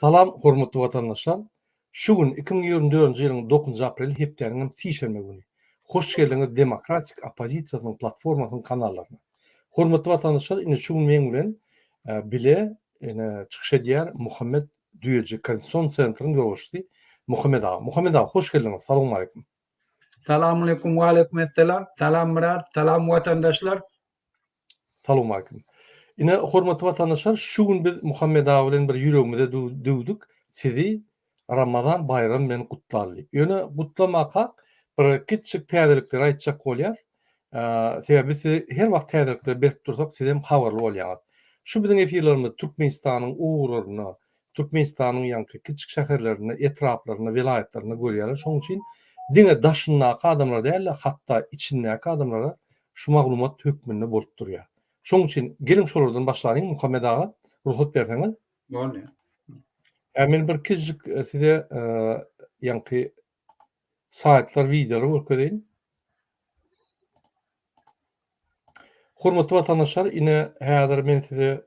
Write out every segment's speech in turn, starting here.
Salam hormatly watandaşlar! Şu gün iki müň ýigrimi dördünji ýylyň dokuzynjy apreli hepdäniň hem sişenbe güni. Hoş geldiňiz Demokratik oppozisiýasynyň platformasynyň kanallaryna. Hormatly watandaşlar ine şu gün meň bilen bile ine çykyş edýär Muhammet Düýeji Konstitusion Centryň ýolbaşçysy Muhammet aga. Muhammet aga hoş geldiňiz. Salowmaleýkim. Salamaleýkum, waleýkumessalam. Salam Myrat, salam watandaşlar. Salowmalikim. Ine hormatly watandaşlar şu gün biz Muhammet aga bilen bir ýüregimize düwdük sizi Ramazan baýramy bilen gutlaly diýip. Ýöne gutlamakak bir kiçjik täzelikleri aýtjak bolýas. Sebäbi biz sizi her wagt täzelikleri berip dursak siz hem habarly bolýaňyz. Şu biziň efirlerimiz Türkmenistanyň ugurlaryna, Türkmenistanyň ýaňky kiçjik şäherlerine, etraplaryna, welaýatlaryna görýärler. Şonuň üçin diňe daşyndaky adamlara däl-de hatda içindäki adamlara Şu maglumat hökmünde bolup durýar. Şoň üçin geliň şolardan başlalyň Muhammet aga, rugsat berseňiz. Bolýar. Ä men bir kiçijik e, size e, ýaňky saýtlar, wideolar görkezeýin. Hormatly watandaşlar, ine häzir men size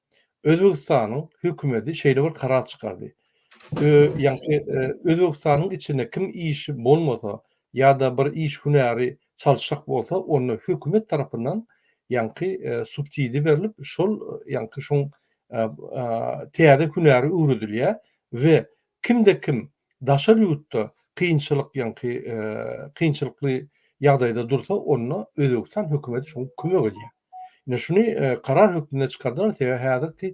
Özbegistanyň hökümeti şeýle bir karar çykardy. Ýagny Özbegistanyň içinde kim işi bolmasa ýa-da bir iş hünäri çalyşjak bolsa onda hökümet tarapyndan ýagny subsidi berlip şol ýagny şoň täze hünäri öwredilýär we kimde kim daşary ýurtda kynçylyk ýagny kynçylykly ýagdaýda dursa onda Özbegistan hökümeti şoňa kömek edýär. Indi şuny karar hökmünde çykardylar, sebäbi häzirki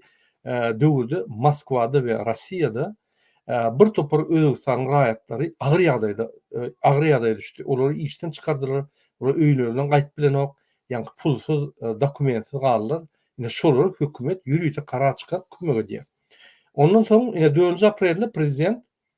döwürde Moskwada we Rossiýada bir topar Özbegistanyň raýatlary agyr ýagdaýda, agyr ýagdaýa düşdi. Olary işden çykardylar, olar öýlerinden gaýyp bilenok, ýaňky pulsyz, dokumentsiz galdylar. Indi şolara hökümet ýörite karar çykaryp kömek edýär. Ondan soň, ine dördünji aprelde prezident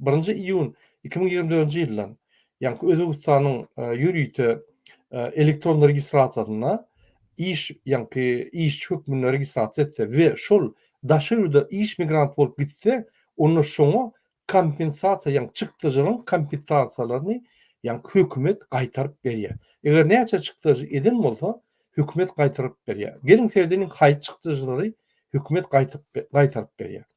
Birinji iýun iki müň ýigrimi dördünji ýyldan ýaňky Özbegistanyň ýörite elektron registrasiýasynda iş, ýaňky işçi hökmünde registrasiýa etse we şol daşary ýurda iş migranty bolup gitse, onda şoňa kompensasiýa, ýaňky çykdajylaryň kompensasiýalaryny, ýaňky hökümet gaýtaryp berýär. Eger näçe çykdajy eden bolsa, hökümet gaýtaryp berýär. Geliň seredeliň haýsy çykdajylary hökümet gaýtaryp berýär.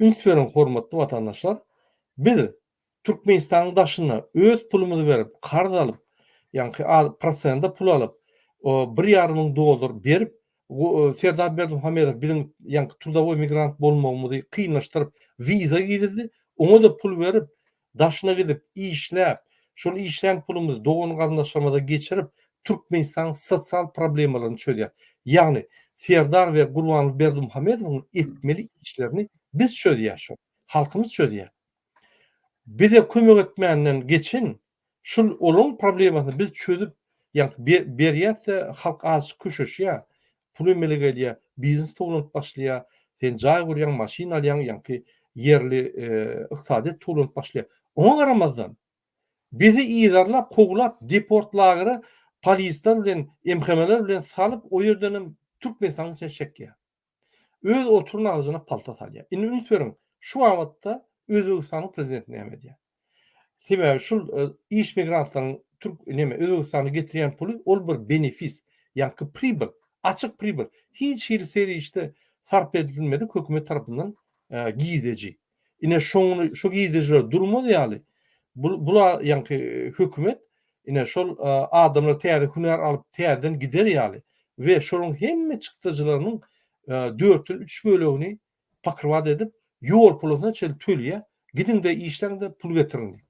Üns beriň hormatly watandaşlar, biz Türkmenistanyň daşynda öz pulumyzy berip, karz alyp, ýaňky a prosende pul alyp, o bir ýarym müň dollar berip, gu Serdar Berdimuhamedow biziň ýaňky trudowoý migrant bolmagymyzy kynlaşdyryp, wiza girizdi, oňa-da pul berip, Daşyna gidip, işläp, şol işlän pulumyzy dogan-garyndaşlarymyza geçirip, Türkmenistanyň sosial problemalaryny çözýäs. Ýagny, Serdar we Gurbanguly Berdimuhamedowyň etmeli işlerini biz çözýäs şol. Halkymyz çözýär. Bize kömek etmänden geçen Şul olaň problemasyny biz çözüp ýa berýäsde halk azjyk köşeşýä, pul emele gelýä, biznes towlanyp başlaýa, sen jaý gurýaň, maşyn alýaň, ýaňky ýerli ykdysadyýet towlanyp başlaýa. Oňa garamazdan bizi yzarlap, kowlap, deport lagera polisler bilen, MHM-ler bilen salyp o ýerdenem Türkmenistanyň içine çekýä. Öz oturan agzyna palta salýar. Indi üns beriň, şu babatda Özbegistanyň prezidenti näme edýär? Sebäbi şul iş migrantlaryň türk näme Özbegistana getirýän puly ol bir benefis, ýaňky pribyl, açyk pribyl, hiç hili serişde sarp edilmedik hökümet tarapyndan girdeji. Ine şony şu gidijler durmaz ýaly bul bula ýaňky hökümet ine şol adamlar täze hünär alyp täzeden gider ýaly we şolyň hemme çykdajylarynyň dörtden üç bölegini pakyrbat edip ýol pulasyna çenli tölýär gidiňde işleňde pul getiriň diýip.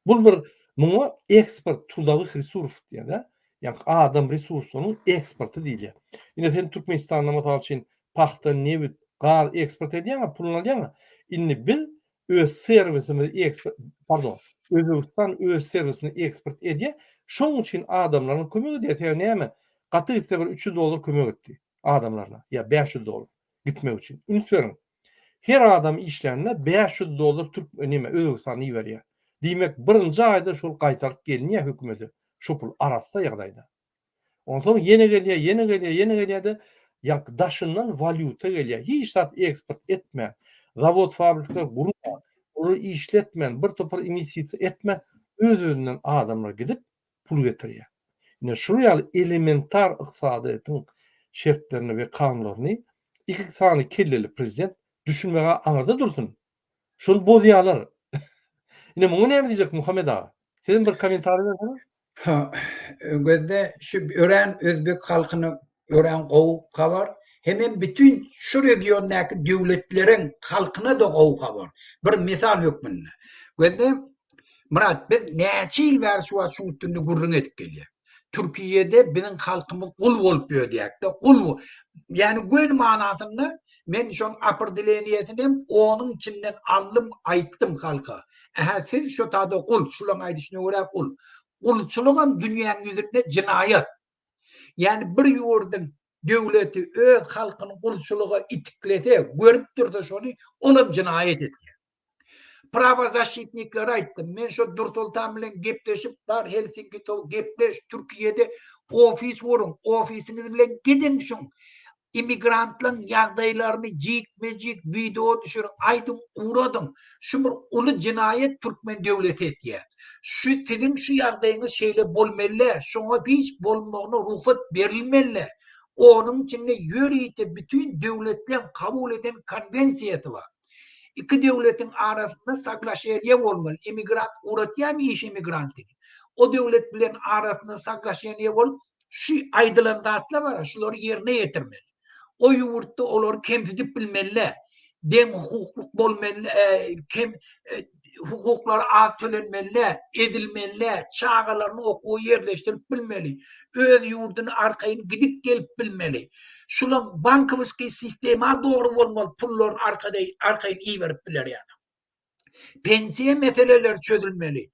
Bul bir muňa eksport trudowih resurf diýerler. Ýa adam resurslarynyň eksporty diýilýär. Ine sen Türkmenistanda mysal üçin pagta, nebit, gaz eksport edýäňa, puluny alýaňa. Indi biz öz serwisimizi eksport, pardon, Özbegistan öz serwisini eksport edýä. Şoň üçin adamlaryna kömek edýä. Sebäbi näme? Gaty gitse bir üç ýüz dollar kömek etdi adamlaryna ýa bäş ýüz dollar gitmek üçin. Üns beriň. Her adam işlände bäş ýüz dollar türk näme özbegistana iberýär. Diýmek birinji aýda şol gaýtaryp gelinýär hökümede şu pul arassa ýagdaýda. Onsoň ýene gelýär ýene gelýär ýene gelýärde ýaňky daşyndan walýuta gelýär hiç zat eksport etmän zawod fabrikler gurman olar işletmän bir topar inisitisiýa etmän öz özünden adamlar gidip pul getirýär. Ine, şular ýaly elementar ykdysadyýetiň şertlerini we kanunlaryny iki sany kelleli prezident düşünmeg-ä aňyrda dursun, şony bozýarlar. Ine, muňa näme diýjek Muhammet aga? Sizem bir kommentariý berseňiz? Ha, Öňüzde şu örän özbek halkyny örän gowy habar. Hemem bütün şu regiondaky döwletleriň halkyna da gowy habar. Bir misal hökmünde. Gözde Murat biz näçe ýyl bäri şu wagt şuň üstünde gürrüň edip gelýäs. Türkiýede biziň halkymyz gul bolup ödýäkde, gul. Ýani göni manasynda men şoň aprdileniýesini hem onuň içinden aldym, aýtdym halka. Ähä siz şo taýda gul, şulaň aýdyşyna görä gul. Gulçulygam dünýäň ýüzünde jinaýat. Ýagny bir ýurduň döwleti öz halkyny gulçulyga itiklese, görüp dursa şony, olam jenaýat edýär. Prawozaşitniklere aýtdym, men şo Dursultan bilen gepleşip bar Helsinki to gepleş, Türkiýede ofis guruň, ofisiňiz bilen gidiň şuň immigrantlaryň ýagdaýlaryny jikme-jik wideo düşüriň, aýdyň, ugradyň. Şu bir uly jenaýat türkmen döwleti etýär. Şu siziň şu ýagdaýyňyz şeýle bolmelä, şoňa hiç bolmagyna rugsat berilmelä. Onuň içinde ýörite bütin döwletleriň kabul eden konwensiýasy bar. Iki döwletiň arasynda saglaşelýe bolmaly, emigrant uratýamy iş emigrantini, o döwlet bilen arasynda saglaşelýe bolup şu aýdylan zatlar bar, şulary ýerine ýetirmeli. O ýurtda olary kemsidip bilmeli, deň hukuklyk bolmaly, kem hukuklary az tölenmelidä, edilmelidä, çagalaryny okuwa ýerleşdirip bilmeli, öz ýurduny arkaýyn gidip gelip bilmeli. Şulaň bankowskiý sistema dogry bolmaly pullaryny arkaýyn iberip biler ýaly. Pensiýa meseleleri çözülmeli.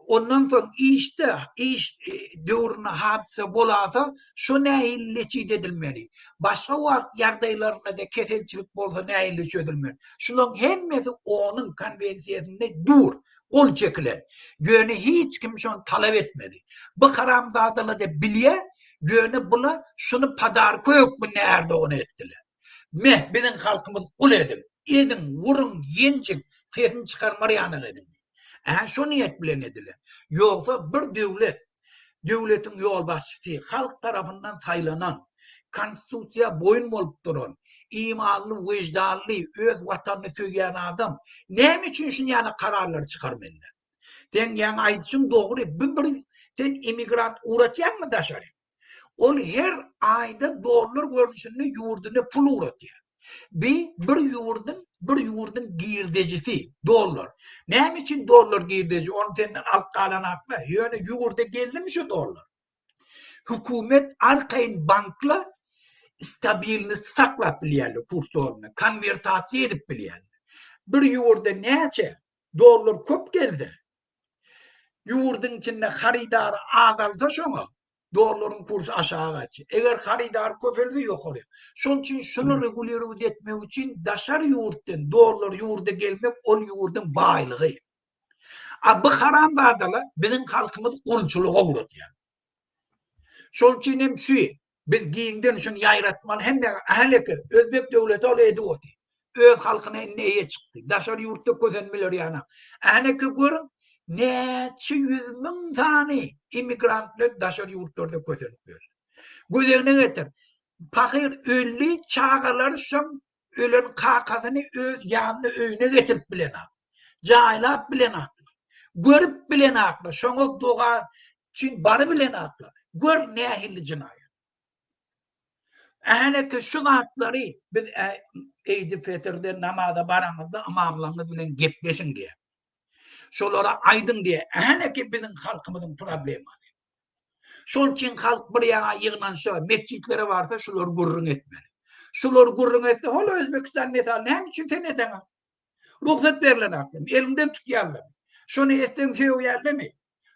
Ondan soň işde, iş döwründe hadysa bolasa, şo nähili neçije edilmeli? Başga wagt ýagdaýlarynda-da keselçilik bolsa nähili çözülmeli? Şularyň hemmesi OONyň Konwensiýasynda dur, gol çekilen. Ýöne hiç kim şony talap etmedi. Bu haramzadalar-da bilýär, ýöne bular şuny podarka hökmünde Ärdogan etdiler. Meh biziň halkymyz gul ediň, eziň, uruň, ýenjiň, sesini çykarmar ýanyk ediň. Ä şo niýet bilen ediler. Ýogsa bir döwlet, döwletiň ýolbaşçysy, halk tarapyndan saýlanan, konstitusiýa boýun bolup duran, imanly, wyždanly, öz watanyny söýýän adam näme üçin şinýana kararlary çykarmalydyr? Sen ýaňy aýdyşyň dogry, bu bir sen emigrant ugratýaňmy daşary? Ol her aýda dollar görnüşinde ýurduna pul ugratýar. Bi bir ýurduň, bir ýurduň girdejisi, dollar. Näme üçin dollar girdeji? Ony senden alyp galan haklar. Ýöne ýurda geldimi şu dollar? Hökümet arkaýyn bankla stabilni saklap bilýärler kurs dolunda, konwertasiýa edip bilýärler. Bir ýurda näçe Dollar köp gelse, ýurduň içinde harydary azalsa şoňa dollaryň kursy aşaga gaçýar. Eger harydar köpelse ýokary. Şonuň üçin şuny regulirować etmek üçin daşary ýurtdan dollar ýurda gelmek ol ýurduň baýlygy. A bu haramzadalar biziň halkymyzy gulçulyga ugradýar. Şonuň üçin hem şu Biz giňden şuny ýaýratmaly hemmä, häleki özbek döwleti ol edip otyr. Öz halkyna indi eýe çykdy. Daşary ýurtda kösenmeler ýanak. Häleki görüň, näçe ýüz müň sany immigrantlar daşary ýurtlarda kösenip ýörler. Göz öňüne getir, pahyr öldi, çagalar şoň Ölen kakasyny öz ýanyna öýüne getirip bilenok. Jaýlap bilenoklar. Görüp bilenoklar. Şoňa doga üçin barybilenoklar. Gör nähili jenaýat. Ählekä şu zatlary biz Eýdi Fetirde namaza baraňyzda ymamlaryňyz bilen gepleşiň diýýär. Şolara aýdyň diýýär. Ählekä biziň halkymyzyň problemasy. Şol üçin halk bir ýana ýygnanşa, metjitlere barsa şular gürrüň etmeli. Şular gürrüň etse, hol Özbegistan mesaly näme üçin sen edeňa? Rugsat berlen aklym, eliňden tutýarlar. Şony etseň söýýärlemi?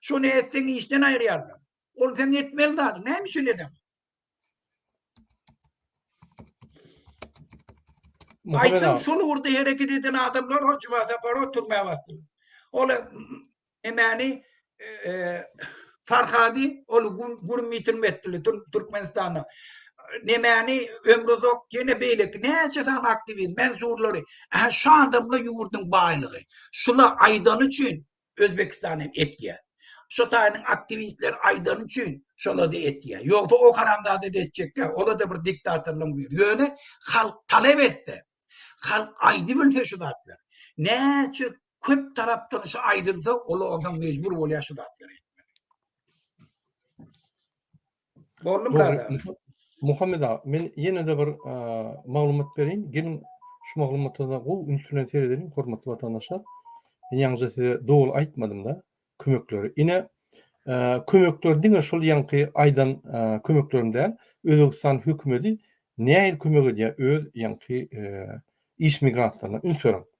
Şony etseň işden aýyrýarlar. Ol sen etmeli zady, näme üçin edeň? Muhammed Aýtym aga. şol ugurda hereket eden adamlar o Juma Saparow türmä basdy. Ol e, emäni e, e, Farhady ol güm- gürüm ýitirme etdiler Tür- Türkmenistanda. Nemäni Ömrüzok ýene beýleki näçe sany aktiwist, mensurlary. Ähli şu adamlar ýurduň baýlygy. Şular aýdany üçin Özbekistan hem etýä. Şo taýynyň aktiwistler aýdany üçin şolada etýä. Ýogsa o haramzadada etjekkä. Olada bir diktatorlygyň biri. Ýöne halk talap etse, halk aýdybilse şu zatlar. Näçe köp tarapdan şu aýdylsa, ol onsoň mejbur bolýa şu zatlary etmeli. Boldy birader. Muhammed aga, men ýene-de bir maglumat bereýin. Geliň, şu maglumata da gowy üns bilen seredeliň, hormatly watandaşlar. Men ýaňyja size doly aýtmadym-da, kömekleri. Ine, kömekler diňe şol ýaňky aýdan kömeklerim däl. Özbegistan hökümeti nähili kömek edýär öz ýaňky iş migrantlaryna? Üns beriň.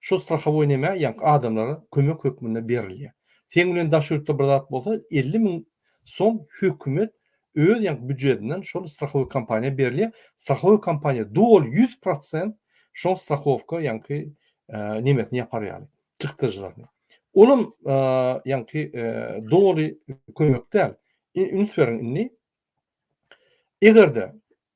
Şu strahowoý näme ýaňky adamlara kömek hökmünde berilýär. Seň bilen daş ýurtda bir zat bolsa elli müň som hökümet öz ýaňky býujetinden şol strahowoý kompaniýa berilýär. Strahowoý kompaniýa doly ýüz prosent şoň strahowka ýaňky nemesini ýapar ýaly çykdajylaryny. Olam ýaňky doly kömek däl. Üns beriň indi. Egerde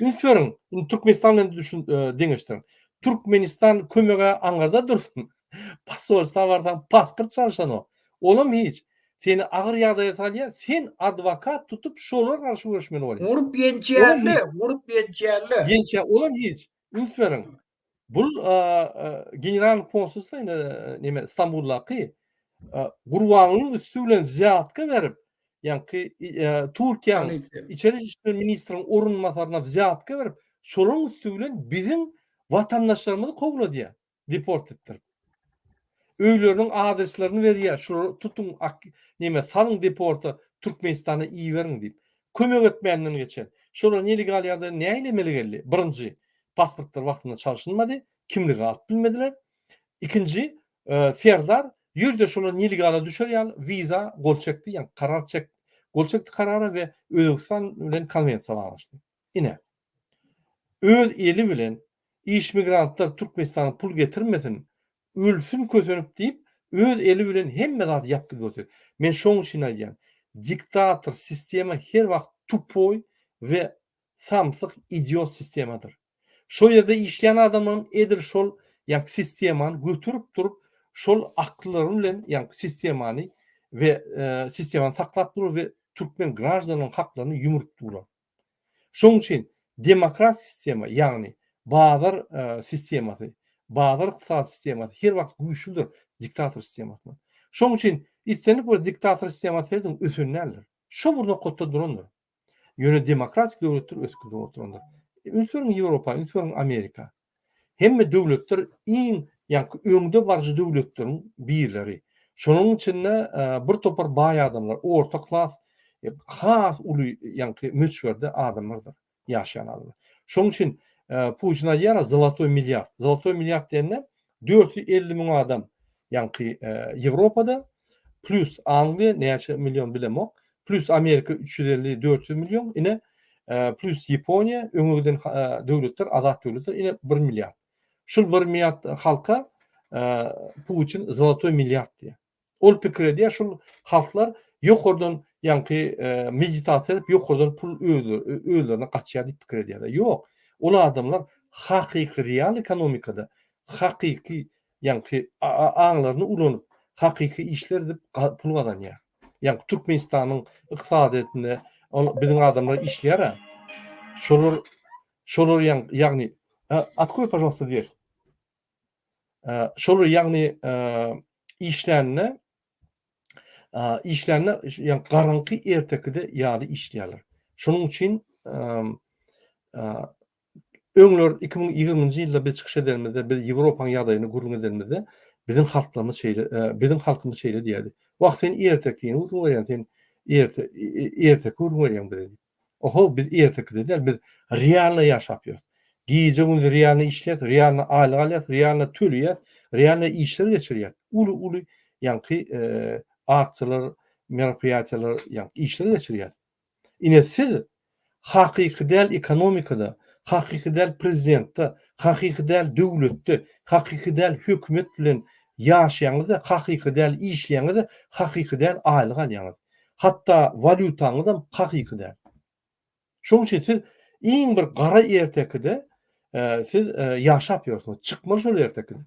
Üns beriň, indi Türkmenistan bilen düşün, e, deňeşdiriň. Türkmenistan kömege aňyrda dursun. Posolstwa barsaň, pasport çalyşanok. Olam hiç. Seni agyr ýagdaýa salýar, sen adwokat tutup, şolara garşy göreşmeli bolýar. Urup ýençerli, urup ýençerli. Ýençe, olam hiç. Üns beriň. Bul general konsulsa ine neme Stambuldaky Gurbanyň üstü bilen zyýatka berip, ýaňky Türkiýäň içeri işler ministriniň orunbasaryna zyýatka berip, şolaryň üstü bilen biziň watandaşlarymyzy kowladýar, deport etdirip. Öýleriniň adreslaryny berýär şulary tutuň ak neme salyň deporta türkmenistana iberiň diýip. Kömek etmänden geçen. Şolar nelegal ýagdaýda näilemeli geldi? Birinji pasportlary wagtynda çalşynmady, kimligi alyp bilmediler. Ikinji Serdar ýörde şolar nelegala düşer ýaly wiza gol çekdi ýa karar çek gol çekdi karara we Özbegistan bilen konwensiýa baglaşdy. Ine, öz eli bilen iş migrantlar Türkmenistana pul getirmesin, ölsün kösenip diýip, öz eli bilen hemme zady ýapdyp ýördi. Men şoň üçin aýdýan, diktator sistema her wagt tupoý we samsyk idiot sistemadyr. Şo ýerde işleýän adamlaryň edil şol ýaňky sistemany göterip durup, şol akyllary bilen ýaňky sistemany we sistemany saklap durlar we türkmen graždanlaryň haklaryny ýumrup durlar. Şonuň üçin demokrat sistema, ýagny bazar sistemasy, bazar ykdysady sistemasy her wagt güýçlüdir diktator sistemasyndan. Şonuň üçin islendik bir diktator sistemasy seredin ösen däldir. Şo bir nokatda durandyr. Ýöne demokratik döwletler ösüp gidip oturandyr. Üns beriň Ýewropa, üns beriň Amerika. Hemme döwletler iň, ýaňky öňde baryjy döwletleriň birleri. Şonuň içinde bir topar baý adamlar, orta klas has uly, ýaňky möçberde adamlardyr, ýaşaýan adamlar. Şonuň üçin Putin aýdýar-a zolotoý milliard. Zolotoý milliard diýende dört ýüz elli müň adam Ýaňky Ýewropada plus Angliýa näçe million bilemok, plus Amerika üç ýüz elli, dört ýüz million, ine plus Ýaponiýa öňe giden döwletler, azat döwletler ine bir milliard. Şul bir milliard halka Putin zolotoý milliard diýýär. Ol pikir edýär, şul halklar ýokardan ýaňky meditasiýa edip ýokardan pul özlerine gaçýar diýip pikir edýärler. Ýok, ol adamlar hakyky real ekonomikada, hakyky ýaňky aňlaryny ulanyp, hakyky işler edip pul gazanýar. Ýaňky Türkmenistanyň ykdysadyýetinde biziň adamlar işleýär-ä. Şolar şolar ýagny Atkroý pažalsta dwer. Şolar ýagny işlände işlände ýaňky garaňky ertekide ýaly işleýärler. Şonuň üçin Öňler iki müň ýigriminji ýylda biz çykyş edenimizde, biz Ýewropaň ýagdaýyny gürrüň edenimizde, biziň halklarymyz şeýle, biziň halkymyz şeýle diýerdi, Wah, sen ertekini gürrüň berýäň, sen erte, erteki gürrüň berýäň bize diýip. Ohow, biz ertekide däl, biz realno ýaşap ýörüs. Gije-gündiz realno işleýäs, realno aýlyk alýas, realno töleýäs, realno işler geçirýäs. Uly-uly ýaňky aksiýalar, meropoýatiýalar, ýaňky işler geçirýäs. Ine siz hakyky däl ekonomikada, hakyky däl prezidentde, hakyky däl döwletde, hakyky däl hökümet bilen ýaşaýaňyzda, hakyky däl işleýäňizde, hakyky däl aýlyk alýaňyz. Hatda walýutaňyzam hakyky däl. Şoň üçin siz iň bir gara ertekide siz ýaşap ýörsüňiz. Çykmaly şol ertekiden.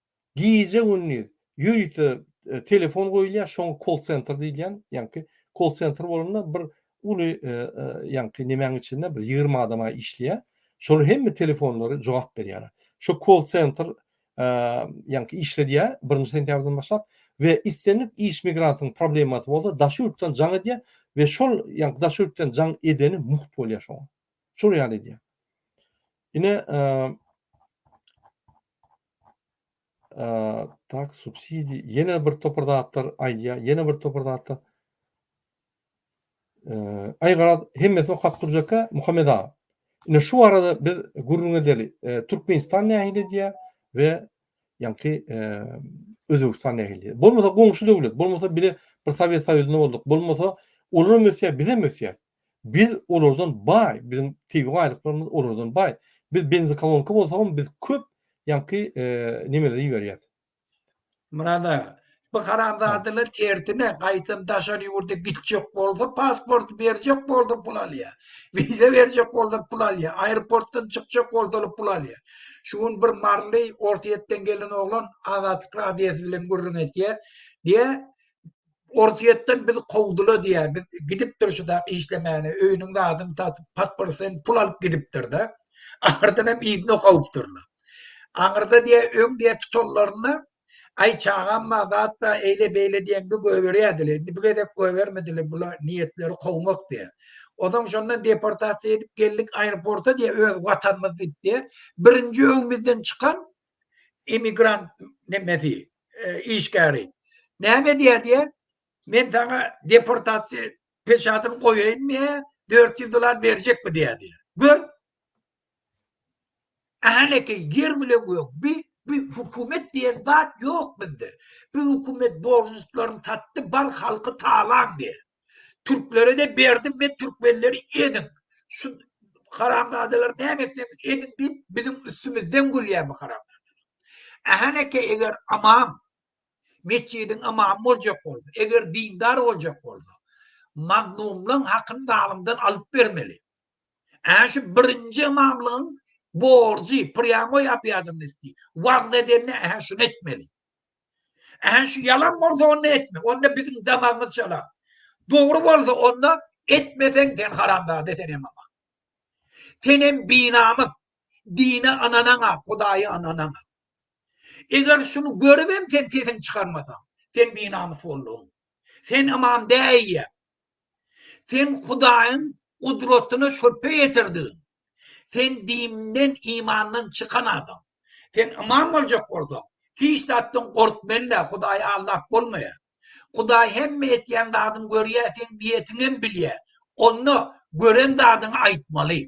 Gije-gündiz ýörite telefon goýulýar, şoňa kol-sentr diýilýän, ýaňky kol-sentr bolanda bir uly ýaňky nemäň içinde bir ýigrimi adam-a işleýär. Şolar hemme telefonlary jogap berýärler. Şo kol-sentr ýaňky işledýär birinji sentýabrdan başlap we islendik iş migrantyň problemasy bolsa daş ýurtdan jaň edýär we şol ýaňky daş ýurtdan jaň edeni mugt bolýar şoňa. Şol ýaly edýär. Ine Eee, tak, subsidi, ýene bir topar zatlar aýdýar, ýene bir topar zatlar. Eee, aý garaz, hemmesini okap durjak-a, Muhammet aga. Ine, şu barada biz gürrüň edeli. Eee, Türkmenistan nähili edýär we ýaňky, eee, Özbegistan nähili edýär. Bolmasa goňşy döwlet, bolmasa bile bir Sowet Soýuzynda bolduk, bolmasa olar hem ösýär, biz hem ösýäris. Biz olardan baý, biziň tebigy baýlyklarymyz olardan baý. Biz benzokolonka bolsagam biz köp ýaňky nemeleri iberýäs. Myrat aga, bu haramzadalar tersine gaýtam daşary ýurda gitjek bolsa pasporty berjek bolsa pul alýar. Wiza berjek bolsa pul alýar. Aeroportdan çykjak bolsalar pul alýar. Şu gün bir maryly Orsýetden gelen oglan Azatlyk radiosy bilen gürrüň etýär. Diýýär, Orsýetden bizi kowdular diýýär. Biz gidipdir şu zat işlemäne, öýüniň zadyny satyp, podporsen pul alyp gidipdir-de. Ahyrdan hem yzyna kowupdyrlar. Aňyrda diýýär, öň diýýär tutanlarynda, Aý, çagam bar, zat bar, eýle-beýle diýende goýberýärdiler. Indi bu gezek goýbermediler, bular niýetleri kowmak diýýär. Onsoň şondan deportasiýa edip geldik aeroporta diýýär, öz watanymyz diýip diýýär. Birinji öňümizden çykan emigrant nemesi, e, işgäri. Näme diýär diýär? Men sana deportasiýa peşatyny goýaýyn diýä, 400 dollar berjekmi diýä diýä. Gör. Ähleke ýer bile gök. Bi bi hökümet diýen zat ýok bizde. Bu hökümet borçlaryny satdy, bar halky talan diýä. Türklere de berdim men türkmenleri eziň. Şu haramzadalar näme etseňiz ediň diýip biziň üstümizden gülýär bu haramzadalar. Ähäneke eger amam metjidiň amamy boljak bolsa, eger dindar boljak bolsa, magnumlaň hakyny zalymdan alyp bermeli. Ähä şu birinji imamlygyň borjy, prýamoý obýazannosty, wagt edende ähä şuny etmeli. Ähli şu ýalan bolsa onda etme. Onda biziň damagymyz çala. Dogry bolsa onda etmeseň sen haramzada sen hem aman. Sen hem binamys. Dine ananaňa, Hudaýa ananaňa. Eger şunu görüp hem sen sesiň çykarmasaň, sen binamys bolduň. Sen imam däýýä. Sen Hudaýyň gudratyna şübhe ýetirdigiň. Sen dininden, imandan çykan adam. Sen ymam boljak bolsaň, hiç zatdan gork men-ä, Hudaýy aldap bolmaýar. Hudaý hemme etýän zadyňy görýär, seň niýetiňem bilýär. Onda gören zadyňy aýtmaly.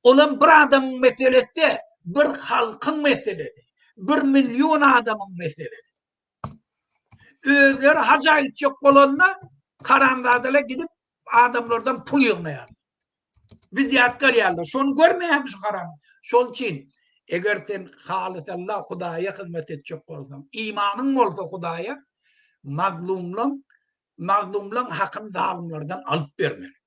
Olam bir adamyň meselesi däl, bir halkyň meselesi, bir million adamyň meselesi. Özleri haja gitjek bolanda haramzadalar gidip adamlardan pul ýygnaýar. Wizýatka alýarlar. Şony görmeýärmi şu haram? Şol üçin eger sen halys Allah Hudaýa hyzmat etjek bolsaň, imanyň bolsa Hudaýa mazlumlaň, mazlumlaň hakyny zalymlardan alyp bermeli.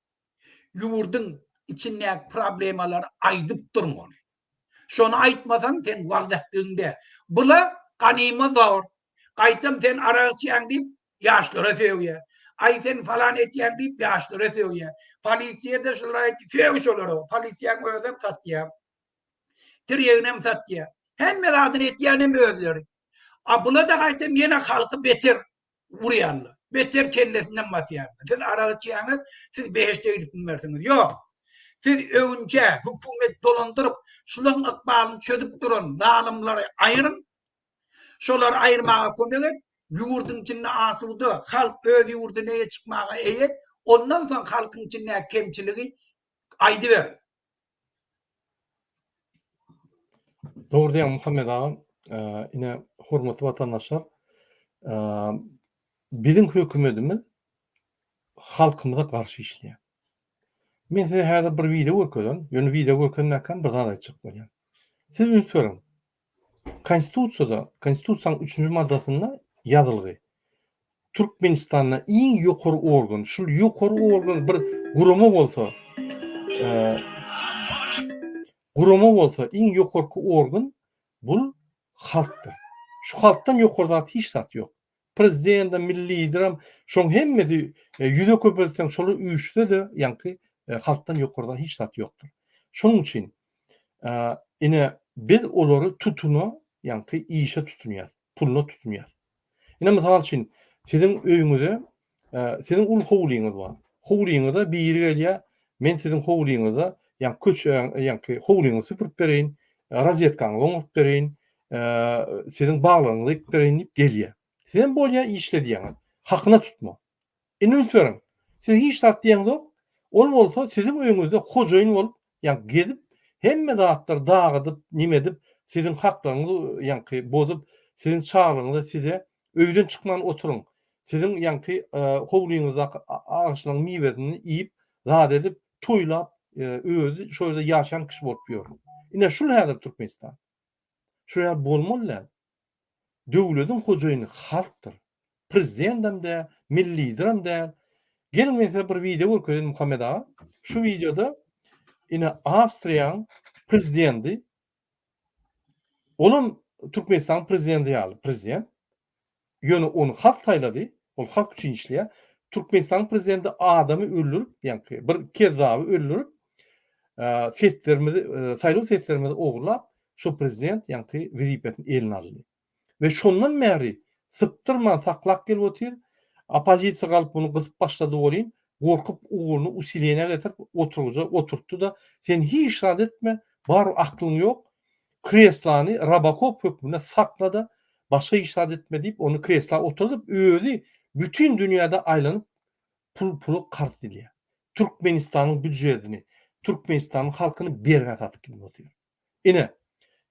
Ýurduň içindäki problemalary aýdyp durmaly. Şony aýtmasaň sen wagyz ätdigiňde. Bula ganyma zor. Gaýtam sen arak içýäň diýip ýaşlara sögýä. Aý sen falan etýäň diýip ýaşlara sögýä. Polisiýada şulara aýt sög şolara. Polisiýaň özem satýa. Tirýeginem satýa. Hemme zadyny etýänem özleri. A bulada gaýtam ýene halky beter urýarlar. Beter kellesinden basýarlar. Siz arak içýäňiz, siz behişde gidip bilmersiňiz. Ýok. Siz öňje hökümet dolandyryp, şulaň ykbalyny çözüp duran zalymlary aýyryň. Şolary aýyrmaga kömek et. Ýurduň içinde asuda, halk öz ýurdyna eýe çykmaga eýe et. Ondan soň halkyň içindäki kemçiligi aýdyber. Dogry diýýäň Muhammet aga. Ine, hormatly watandaşlar, biziň hökümetimiz halkymyza garşy işleýär. Men size häzir bir wideo görkezen, ýöne wideo görkezmäkkäm bir zat aýtjak bolýan. Siz üns beriň, Konstitusiýada, Konstitusiýanyň üçünji maddasynda ýazylgy. Türkmenistanda iň ýokary organ, şul ýokary organ bir gurama bolsa, gurama bolsa iň ýokarky organ bul halkdyr. Şu halkdan ýokary zat hiç zat ýok. Prezidendem, milli liderem şoň hemmesi ýüze köpeltseň şolar üýşse-de ýaňky halkdan ýokarda hiç zat ýokdur. Şonuň üçin ine biz olary tutuna ýaňky işe tutunýas, puluna tutunýas. Ine mysal üçin siziň öýüňize Siziň uly howlyňyz bar. Howlyňyza biri gelýär, Men siziň howlyňyza, ýa köçäň, ýa-ki howlyňyzy süpürip bereýin, rozýetkaňyzy oňaryp bereýin, siziň baglaryňyzy ekip bereýin diýip gelýär. Sizem bolýa işle diýýäňiz. Hakyna tutma. Indi üns beriň. Siz hiç zat diýeňizok. Ol bolsa siziň öýüňizde hojaýyn bolup, Ýaňky gezip hemme zatlary dagydyp neme edip siziň haklaryňyzy ýaňky bozup siziň çaglygyňyza size öýden çykman oturyň siziň ýaňky howlyňyzdaky agşynyň miwesini iýip zat edip toýlap özi şo ýerde ýaşan kişi bolup ýör. Ine şul häzir Türkmenistan. Şular bolmaly däl. Döwlediň hojaýyny halkdyr. Prezidendem däl, milli liderem däl. Geliň men size bir wideo görkezeýin Muhammet aga. Şu wideoda ine Awstriýaň prezidendi olam Türkmenistanyň prezidendi ýaly prezident. Ýöne ony halk saýlady. Ol halk üçin işleýär. Türkmenistanyň prezidendi adamy öldürip, ýaňky bir kezzaby öldürip, seslerimizi, saýlaw seslerimizi ogurlap, Şol prezident ýaňky wezipesini eline aldy we şondan bäri sypdyrman saklap gelip otyr, oppozisiýa galyp muny gysyp başlady welin, gorkup ugruny usileniýa getirip oturgyja oturtdy-da, sen hiç zat etme, barybir aklyň ýok, kreslany robokop hökmünde sakla-da, başga hiç zat etme diýip, ony kresla oturdyp, özi bütin dünýäde aýlanyp pul pula karz dilýär. Türkmenistanyň býujetini, Türkmenistanyň halkyny bergä satyp gidip otyr. Ine,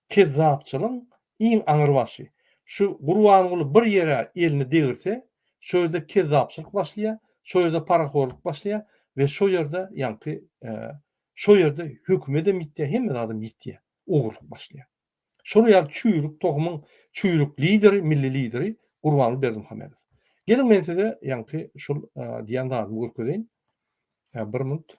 kezzapçylygyň iň aňry başy. Şu Gurbanguly bir ýere elini degirse, şo ýerde kezzapçylyk başlaýar, şo ýerde parahorlyk başlaýar we şo ýerde ýaňky şo ýerde hökümetem ýitýär, hemme zadam ýitýär, ogurlyk başlaýar. Şolar ýaly çüýrük tohumyň çüýrük lideri, milli lideri Gurbanguly Berdimuhamedow. Geliň men size ýaňky şul diýen zadymy görkezeýin. Bir minut.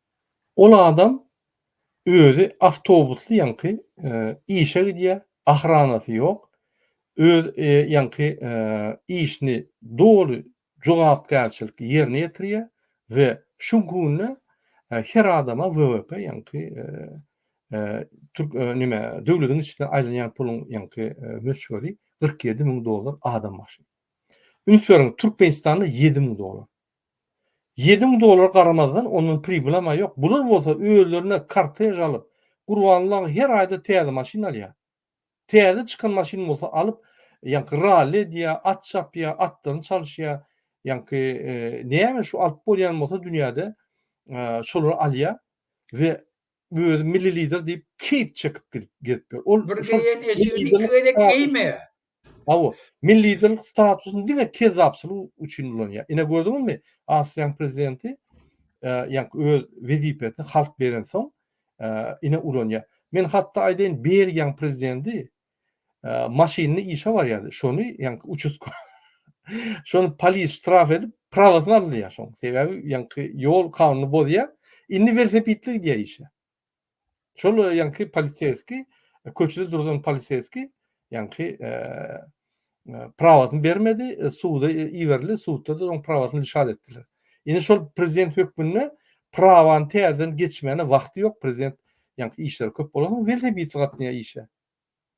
Ol adam özi awtobusly ýaňky işe gidýär, ahranasy ýok, öz ýaňky işini doly jogapkärçilikli ýerine ýetirýär we şu günde her adama WWP ýaňky nime döwletiň içinde aýlanýan puluň ýaňky möçberi kyrk ýedi müň dollar adam başyna. Üns beriň Türkmenistanda ýedi müň dollar. Ýedi müň dollara garamazdan, ondan pribylam-a ýok. Bular bolsa özlerine kortež alyp, Gurbanullag her aýda täze maşyn alýar. Täze çykan maşyny bolsa alyp, ýaňky ralli edýär, at çapýar, atlaryny çalyşýar. Ýaňky näme şu alyp bolýan bolsa dünýäde, şolary alýar we Özü milli lider diýip keýp çekip gezip ýör. Ol Bir geýen eşigini iki gezek geýmeýär. Hawa, milli liderlik statusyny diňe kezzapçylyk üçin ulanýar. Ine gördüňizmi, Awstriýanyň prezidenti ýaňky öz wezipesini halk berensoň ine ulanýar. Men hatda aýdaýyn, Belgiýanyň prezidenti maşynyny işe barýardy. Şony ýaňky uçuska şony polis ştraf edip prawasyny alýar şoň. Sebäbi ýaňky ýol kanunyny bozýar. Indi welosipedli gidýär işe. Şol ýaňky polisýeski köçede duran polisýeski ýaňky prawasyny bermedi, suda iberildi, sudda-da onuň prawasyny lişat etdiler. Indi şol prezident hökmünde prawany täzeden geçmäne wagty ýok, prezident ýaňky işleri köp bolan soň welosipedli gatnaýar işe.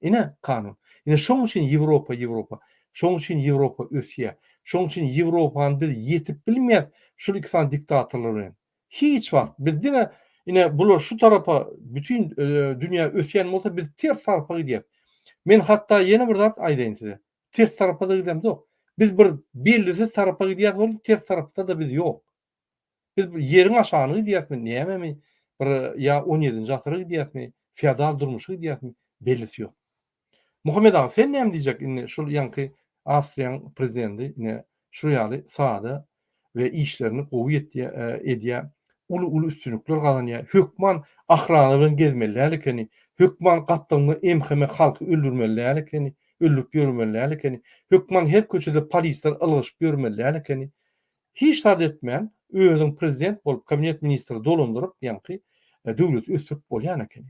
Ine kanun. Ine şoň üçin Ýewropa, Ýewropa. Şoň üçin Ýewropa ösýär. Şoň üçin Ýewropany biz ýetip bilmeýäs şul iki sany diktatorlar bilen. Hiç wagt. Biz diňe ine bular şu tarapa bütin dünýä ösýän bolsa biz ters tarapa gidýäris. Men hatda ýene bir zat aýdaýyn size. Ters tarapa-da gidemzok. Biz bir bellisiz tarapa gidýäris welin ters tarapda-da biz ýok. Biz ýeriň aşagyna gidýärismi, nämemi, bir ýa on ýedinji asyra gidýärismi, feodal durmuşa gidýärismi, bellisi ýok. Muhammet aga sen näme diýjek indi şul ýaňky Awstriýaň prezidendi ine şu ýaly sada we işlerini gowy edýä uly uly üstünlikler gazanýa hökman ahrana bilen gezmeli däl ekeni hökman gapdalynda MHM halky öldürmeli däl ekeni öldürip ýörmeli däl ekeni hökman her köçede polisler ylgaşyp ýörmeli däl ekeni hiç zat etmän özüň prezident bolup kabinet ministri dolandyryp ýaňky döwleti ösdürip bolýan ekeni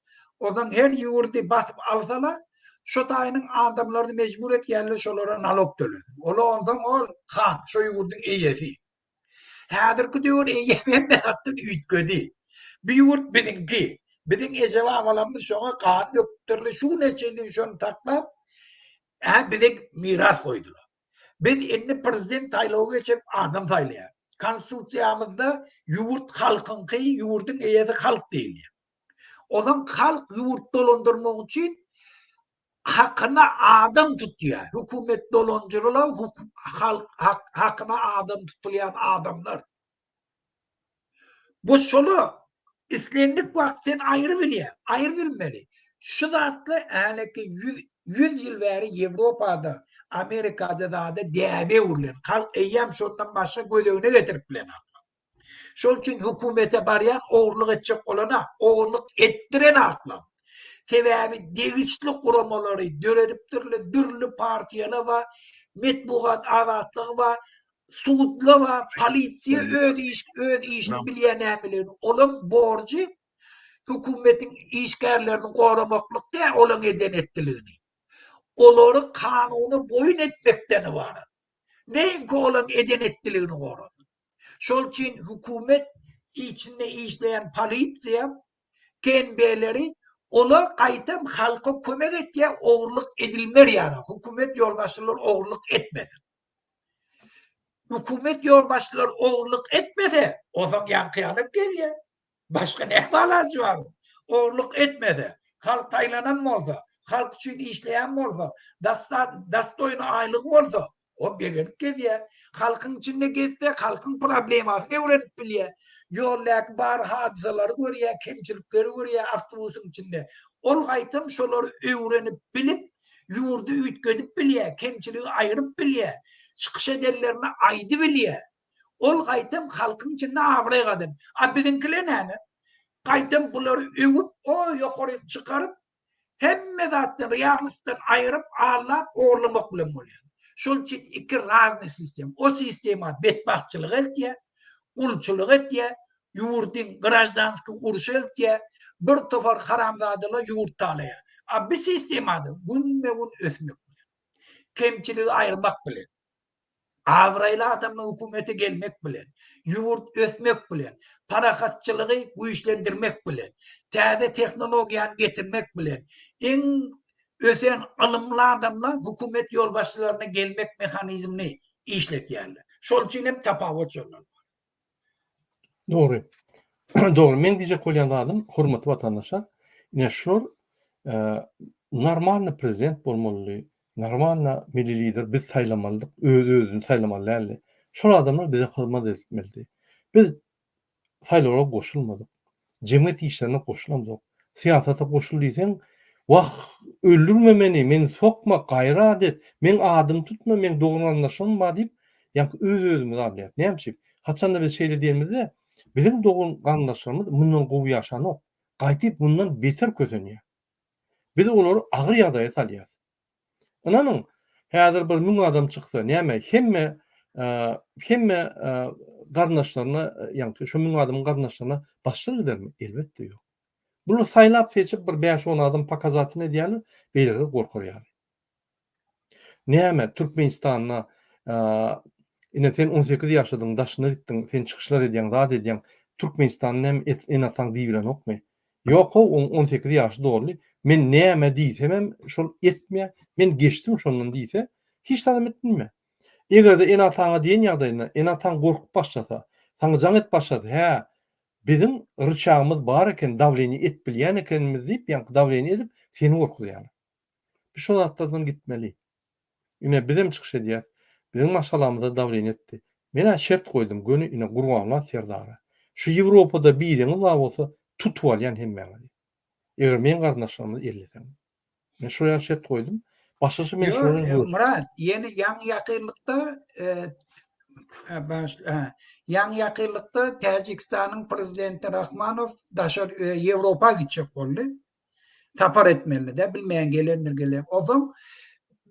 Onsoň her ýurdy basyp alsala, şo taýynyň adamlaryny mejbur etýärler şolara nalog tölesin. Ola onsoň ol han, şo ýurduň eýesi. Häzirki döwür eýe berme hakdan üýtgedi. Bu ýurt biziňki. Biziň eje-babalarymyz şoňa gan döküpdirler, şu güne çenli şony saklap, ä bize miras goýdular. Biz indi prezident saýlawy geçirip adam saýlaýarys. Konstitusiýamyzda ýurt halkyňky, ýurduň eýesi halk diýilýär. Ozan halk ýurt dolandyrmak üçin hakyna adam tutýar. Hökümet dolanjyrla halk hakyna adam tutulýan adamlar. Bu şola islendik wagt sen aýry bilýär, aýry bilmeli. Şu zatla häleki 100 100 ýyl bäri Ýewropada, Amerikada zada däbe öwrülen. Halk eýýäm şondan başga gözegine getirip bilenok. Şol üçin hökümete barýan ogurlyk etjek bolana ogurlyk etdiren aklam. Sebäbi degişli guramalary döredipdirle dürli partiýala ba metbugat azatlygy ba sudla ba polisiýa öz iş öz işini bilýä nämeligini olaň borjy hökümetiň işgärlerini goramaklyk dä olaň eden etdiligini olary kanuna boýun etmekden ybarat neýinki olaň eden etdiligini gorasyn Şol üçin hökümet içinde işleýän polisiýa TMB-leri olar gaýtam halka kömek etýär ogurlyk edilmer ýaly hökümet ýolbaşçylary ogurlyk etmesin. Hökümet ýolbaşçylary ogurlyk etmese ozaň ýaňky ýalyp gezýär. Başga näme alajy bar? Ogurlyk etmese, halk saýlanan bolsa, halk üçin işleýän bolsa, dastoýny aýlygy bolsa, ol begenip gezýär. Halkyň içinde gezse, halkyň problemasyny öwrenip bilýär. Ýoldaky bar hadysalary görýär, kemçilikleri görýär awtobusyň içinde. Ol gaýtam şolary öwrenip bilip, ýurdy üýtgedip bilýär, kemçiligi aýryp bilýär, çykyş edenlerine aýdybilýär. Ol gaýtam halkyň içinde abraý gazan. A biziňkiler näme? Gaýtam bulary öwüp, o ýokaryk çykaryp, hemme zatdan realnostdan aýyryp, allap, ogurlamak bilen bolýar. Şol üçin iki raznyý sistema. O sistema betbagtçylyga eltýär, gulçulyga etýär, ýurdyň graždanskiý urşa eltýär, bir topar haramzadalar ýurt talaýar. A bi sistemada günme-gün ösmek bilen. Kemçiligi aýyrmak bilen. Abraýly adamyň hökümete gelmek bilen, ýurt ösmek bilen, parahatçylygy güýçlendirmek bilen, täze tehnologiýany getirmek bilen, iň ösen ylymly adamlar hökümet ýolbaşçylaryna gelmek mehanizmini işletýärler. Şol üçin hem tapawut şondan bar. Dogry. Dogry. Meň diýjek bolýan zadym, hormatly watandaşlar, ine şular normalny prezident bolmalydy, normalny milli lider biz saýlamalydyk, öz özüni saýlamaly däldi. Şol adamlar bize hyzmat etmelidi. Biz saýlawlara goşulmadyk. Jemgyýet işlerine goşulamzok. Syýasata goşul diýseň, Wah, öldürme meni, meni sokma, gaýrat et, meň adymy tutma, meň dogan-garyndaşlarym bar diýip, ýaňky öz-özümizi alýarys. Näme üçin? Haçanda biz şeýle diýenimizde, biziň dogan-garyndaşlarymyz mundan gowy ýaşanok, gaýtyp mundan beter kösenýär. Biz olary agyr ýagdaýa salýarys. Ynanyň, häzir bir müň adam çyksa, näme, hemme, hemme garyndaşlaryna, ýaňky şu müň adamyň garyndaşlaryna başsyz gidermi? Elbetde ýok. Bular saýlap-seçip bir bäş-on adam pokazatyn edýärler, beýleleri gorkar ýaly. Näme, Türkmenistanda, ine, sen on sekiz ýaşadyň, daşyna gitdiň, sen çykyşlar edýäň, zat edýäň, Türkmenistanda näme, et, ene-ataň diýibilenokmy? Ýok how oň on sekiz ýaşy doldy men näme diýsemem şol etmýä men geçdim şondan diýse hiç zadam etmilmä. Egerde ene ataňa diýen ýagdaýynda ene ataň gorkup başlasa saňa jaň et başlasa hä biziň ryçagymyz bar eken dawleniýe et bilýän ekenimiz diýip ýaňky dawleniýe edip seni gorkuzýarlar. Biz şo zatlardan gitmeli. Ine bizem çykyş edýäs. Biziň maşgalamyza dawleniýe etdi. Men-ä şert goýdum, göni ine Gurbanlat serdara. Şu Ýewropada biriňiz bar bolsa, tutup alýan hemmäňizi. Eger meň garyndaşlarymyzy elleseňiz. Men şular ýaly şert goýdum. Başgaça men şular bilen görüşdim. Myrat, ýene ýaňy-ýakynlykda ýaňy-ýakynlykda Täjigistanyň prezidenti Rahmanow daşary Ýewropa gitjek boldy. Sapar etmelide bilmeýän gelendir gelen. Ozaň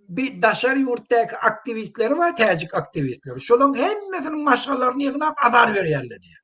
bir daşary ýurtdaky aktiwistleri bar, täjik aktiwistleri. Şolaryň hemmesiniň maşgalaryny ýygnap azar berýärler diýýär.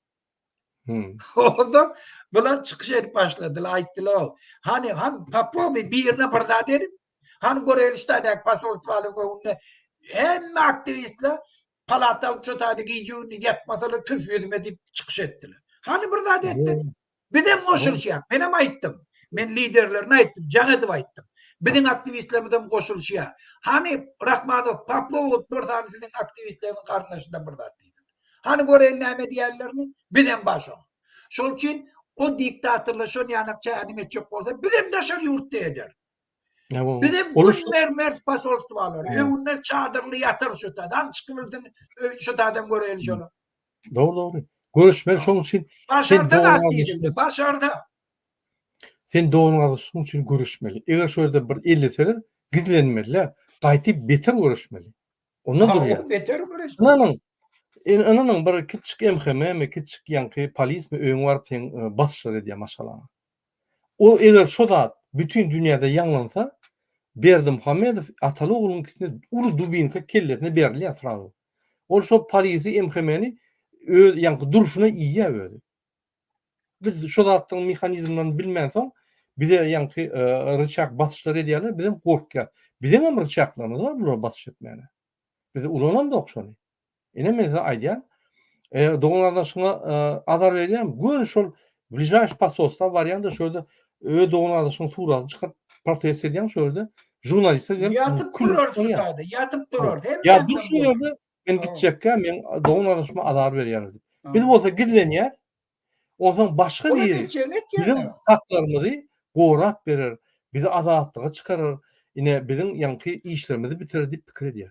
Hmm. Onda bular çykyş edip başladylar, aýtdylar. Hani han Popowy birine bir zat edip, han Gorelişdäki posolstwaly göwünde hemme aktiwistler palataly çotady gije gündüz ýatmasalar tüf ýüzüme diýip çykyş etdiler. Hani bir zat etdi. Hmm. Bizem goşulyşýas. Menem aýtdym. Men liderlerine aýtdym, jaň edip aýtdym. Biziň aktiwistlerimizem goşulyşýar. Hany Rahmanow, Poplow bir sany siziň aktiwistleriňiz garyndaşynda bir zat diýsin. Hany göreýin näme diýerlerini? Bizem bar şoň. Şol üçin o diktatorlaşan ýanak çägini etjek bolsa, bizem daşary ýurtda ederis. Bizem gün mermer posolstwalary, öwünde çadyrly ýatyr şu tadam çykybilsin, şu tadam göreýli şony. Dogry, dogry. Görüşmeli şoň üçin. Başarda zat diýildi, başarda. Sen dogryň agyz şoň üçin görüşmeli. Eger şu ýerde bir elleseler, gizlenmeli, gaýtyp beter görüşmeli. Onda durýar. Beter görüşmeli. Ynanyň, ynanyň bir kiçik MHM-mi, kiçik ýaňky polismi öňe baryp sen basyşlar edýär maşgalaňa. O eger şo zat bütin dünýäde ýaňlansa Berdimuhamedow ataly ogluňkisine uly dubinka kellesine berilýär srazu. Ol şo polisi MHM-ni öz ýaňky durşuna iýýär özi. Biz şo zatlaryň mehanizmlerini bilmänsoň bize ýaňky ryçak basyşlar edýärler bizem gorkýas. Bizeňem ryçaklarymyz bar bulara basyş etmäne. Biz ulanandok şony. Ine men size aýdýan. E, dogan gardaşyňa e, azar berýän, gön şol bližaş pasosta barýan da şöyle öz dogan gardaşyň suratyny çykyp protest edýän şöyle jurnaliste gelip yatıp durar şu taýda yatıp durar hem ya dur şu yerde men gitjekkä men dogan gardaşyma azar berýän biz bolsa gizlenýär ondan başga biri bizim haklarymyzy gorap berer bizi azatlyga çykarar ine biziň ýaňky işlerimizi bitirer diýip pikir edýär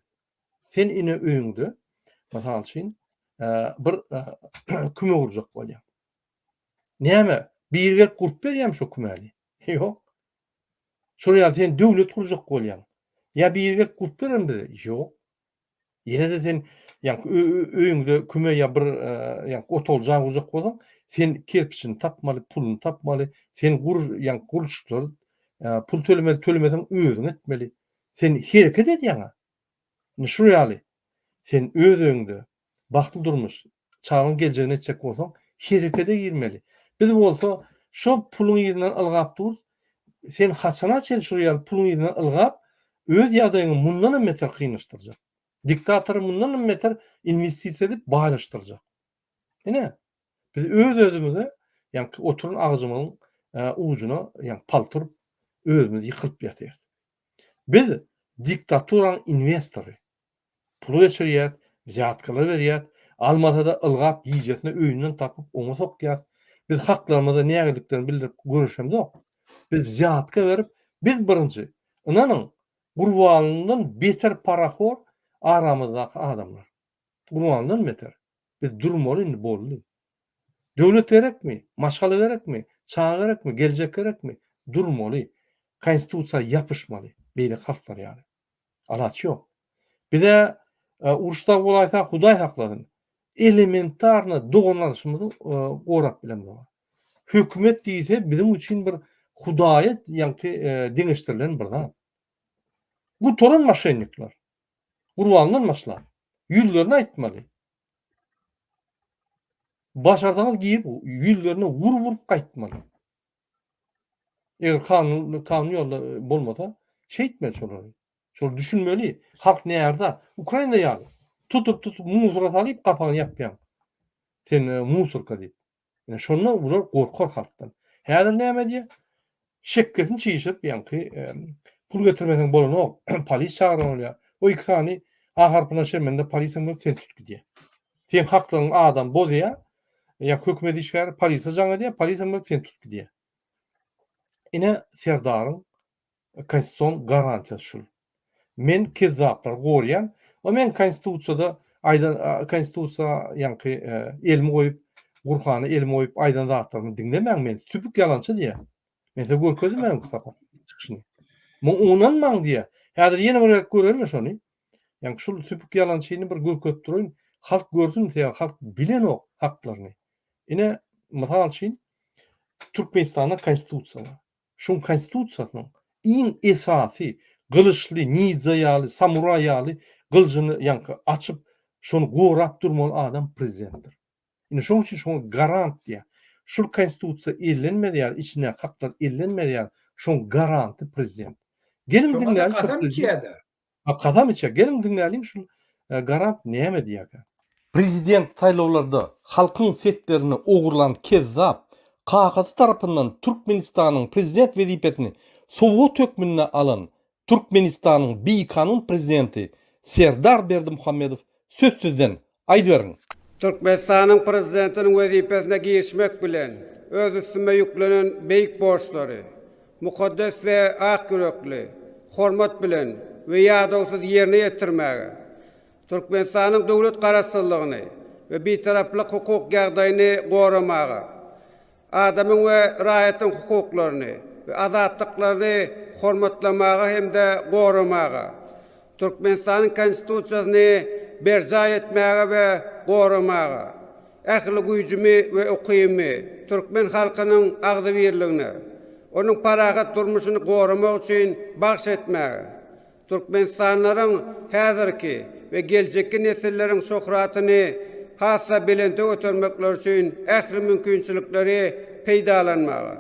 Sen ine öýüňde, mysal üçin, bir küme gurjak bolýaň. Näme? Biri gelip gurup berýärmi şo kümäni? Ýok. Şol ýaly sen döwlet gurjak bolýaň. Ýa biri gelip gurup berermi bize? Ýok. Ýene-de sen ýaňky öýüňde küme ýa bir ýaňky otagly jaý gurjak bolsaň, sen kerpiçini tapmaly, puluny tapmaly, sen gur ýaňky gurluşyklary pul tölemeli, tölemeseň özüň etmeli. Sen hereket edýäň-ä. Indi şul ýaly, sen öz öýüňde bagtly durmuş, çagaň geljegini etjek bolsaň, herekede girmeli. Biz bolsa şo puluň yzyndan ylgap durus. Sen haçana çenli şul ýaly puluň yzyndan ylgap, öz ýagdaýyňy mundanam beter kynlaşdyrjak. Diktatory mundanam beter inwestisiýa edip baýlaşdyrjak. Ine, biz öz-özümize, ýaňky oturan agajymyzyň ujuna ýaňky palta urup, özümiz ýykylyp ýatyrys. Biz diktaturaň inwestory. Pul geçirýäs, wzýatkalar berýäs, almasada ylgap gijesine öýünden tapyp oňa sokýas. Biz haklarymyza nägileliklerini bildirip göreşemzok. Biz wzýatka berip, biz birinji, ynanyň, Gurbanlydan beter parahor aramyzdaky adamlar. Gurbanlydan beter. Biz durmaly indi boldy. Döwlet gerekmi? Maşgala gerekmi? Çaga gerekmi? Geljek gerekmi? Durmaly. Konstitusiýa ýapyşmaly. Beýleki halklar ýaly. Alaç ýok. Bize uruş dagy bolaýsa Hudaý saklasyn. Elementarny doganlaşymyzy gorap bilemizok. Hökümet diýse biziň üçin bir Hudaýa ýaňky deňeşdirilen bir zat. Gutaran maşennikler. Gurbandan başlap. Ýüzlerine aýtmaly. Başarsaňyz girip ýüzlerine wur wurup gaýtmaly. Eger kanun kanun ýolda e, bolmasa şeýtmeli şolary. Şol düşünmeli. Halk näzda? Ukrainada ýaly. Tutup tutup musora salyp gapagyny ýapýaň. Sen e, musorka diýip. Ine şondan bular gorkar halkdan. Häzir näme edýär? Şekgesini çişirip ýaňky pul getirmeseň bolanok, polis çagyran bolýar. O iki sany A harpyna çemende polisiýa bilen sen tut gidýär. Sen haklaryňy adam bozýar, ýa hökümet işgäri polisiýa jaň edýär, polisiýa bilen sen tut gidýär. Ine Serdaryň Konstitusion garantiýasy şul. Men kezzaplary gorýän we men konstitusiýada aýdan konstitusiýa ýaňky elimi goýup Gurhana elimi goýup aýdan zatlarymy diňlemäň men sübük ýalançy diýýä. Men size görkezdim öňki sapar çykyşyny. Muňa ynanmaň diýýä. Häzir ýene bir gezek göreli şony. Ýaňky şul sübük ýalançyny bir görkezip duraýyn. Halk görsün sebäbi halk bilenok haklaryny. Ine mysal üçin Türkmenistanda konstitusiýa bar. Şuň konstitusiýasynyň iň esasy gylyçly, nidza ýaly, samuraý ýaly gylyjyny ýaňky açyp, şony gorap durmaly adam prezidentdir. Indi şoň üçin şoňa garant diýýär. Şul konstitusiýa ellenmez ýaly, içindäki haklar ellenmez ýaly, şoň garanty prezident. Geliň diňläli, Şoňa-da kasam içýär-de. A kasam içe. Geliň diňläliň şul Garant näme diýäkä. Prezident saýlawlarda halkyň seslerini ogurlan kezzap, kakasy tarapyndan Türkmenistanyň prezident wezipesini sowgat hökmünde alan Türkmenistanyň bikanun prezidenti Serdar Berdimuhamedow sözsüzden Aýdyberiň! Türkmenistanyň Prezidentiniň wezipesine girişmek bilen, öz üstüme ýüklenen beýik borçlary mukaddes we ak ýürekli, hormat bilen we ýadawsyz ýerine ýetirmäge, Türkmenistanyň döwlet Garaşsyzlygyny we Bitaraplyk hukuk ýagdaýyny goramaga, Adamyň we raýatyň hukuklaryny we azatlyklaryny hormatlamaga hem-de goramaga, Türkmenistanyň Konstitusiýasyny berjaý etmäge we goramaga, ähli güýjümi we ukybymy türkmen halkynyň agzybirligine, onuň parahat durmuşyny goramak üçin bagş etmäge, Türkmenistanlylaryň häzirki we geljekki nesilleriň şöhratyny has-da belente götermekleri üçin ähli mümkinçilikleri peýdalanmaga,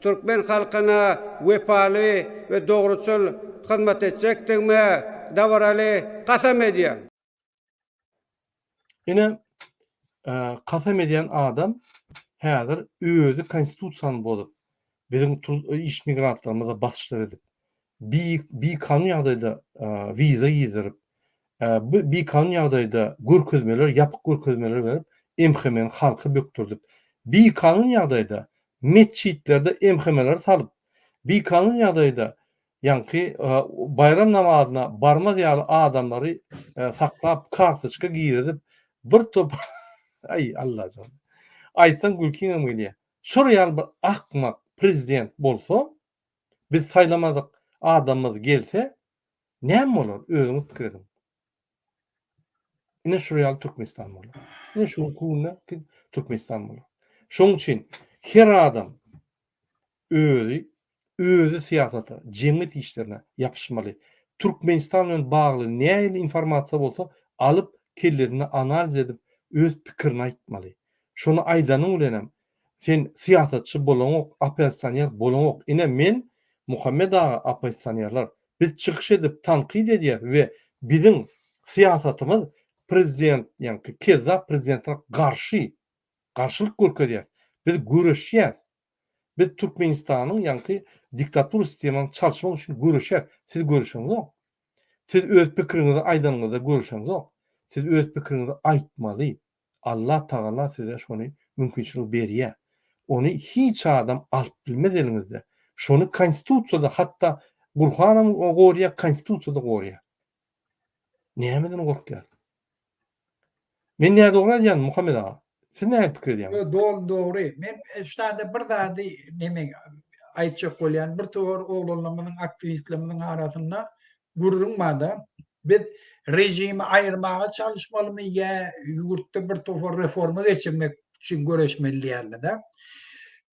türkmen halkyna wepaly we dogruçyl hyzmat etjekdigime dabaraly kasam edýän. Ine kasam edýän adam häzir özi konstitusiýany bozup, biziň iş migrantlarymyza basyşlar edip, bi bikanun ýagdaýda wiza girizdirip, bi bikanun ýagdaýda görkezmeler, ýapyk görkezmeler berip, MHM-ni halka bökdürdip, bikanun ýagdaýda metjitlerde MHM-leri salyp, bikanun ýagdaýda Ýaňky baýram namazyna barmaz ýaly adamlary saklap kartoçka girizip bir top aý Allajan aýtsaň gülkiňem gelýä şor ýaly bir akmak prezident bolsa biz saýlamadyk adamymyz gelse näme bolar özüňiz pikir ediň. Ine şu real Türkmenistan bolar. Ine şu günde Türkmenistan bolar. Şoň üçin her adam özi özi syýasata, jemgyýet işlerine ýapyşmaly. Türkmenistan bilen bagly nähili informasiýa bolsa, alyp kellesinde analiz edip öz pikirini aýtmaly. Şony aýdanyň bilen hem Sen syýasatçy bolaňok opesioner bolaňok ine men Muhammet aga opesionerler biz çykyş edip tankyt edýäs we biziň syýasatymyz prezident ýaňky kezzap prezidentler garşy garşylyk görkezýäs biz göreşýäs biz Türkmenistanyň ýaňky diktatura sistemany çalşmak üçin göreşýäs siz göreşeňzok siz öz pikiriňizi aýdanyňyzda göreşeňzok siz öz pikiriňizi aýtmaly. Allah tagala size şony mümkinçilik berýär. Ony hiç adam alyp bilmez eliňizde. Şony konstitusiýada hatda Gurhanam gorýar, konstitusiýada gorýar. Nämeden gorkýas? Men nädogry aýdýan Muhammet aga? Siz näme pikir edýäňiz? Ýok, doly dogry. Men ştada bir zady neme aýtjak bolýan. Birtowar oglanlarymyzyň, aktiwistlerimiziň arasynda Gürrüň barda, biz režimi aýyrmaga çalyşmalymy ýa ýurtda bir topar reforma geçirmek üçin göreşmeli diýýärler-de.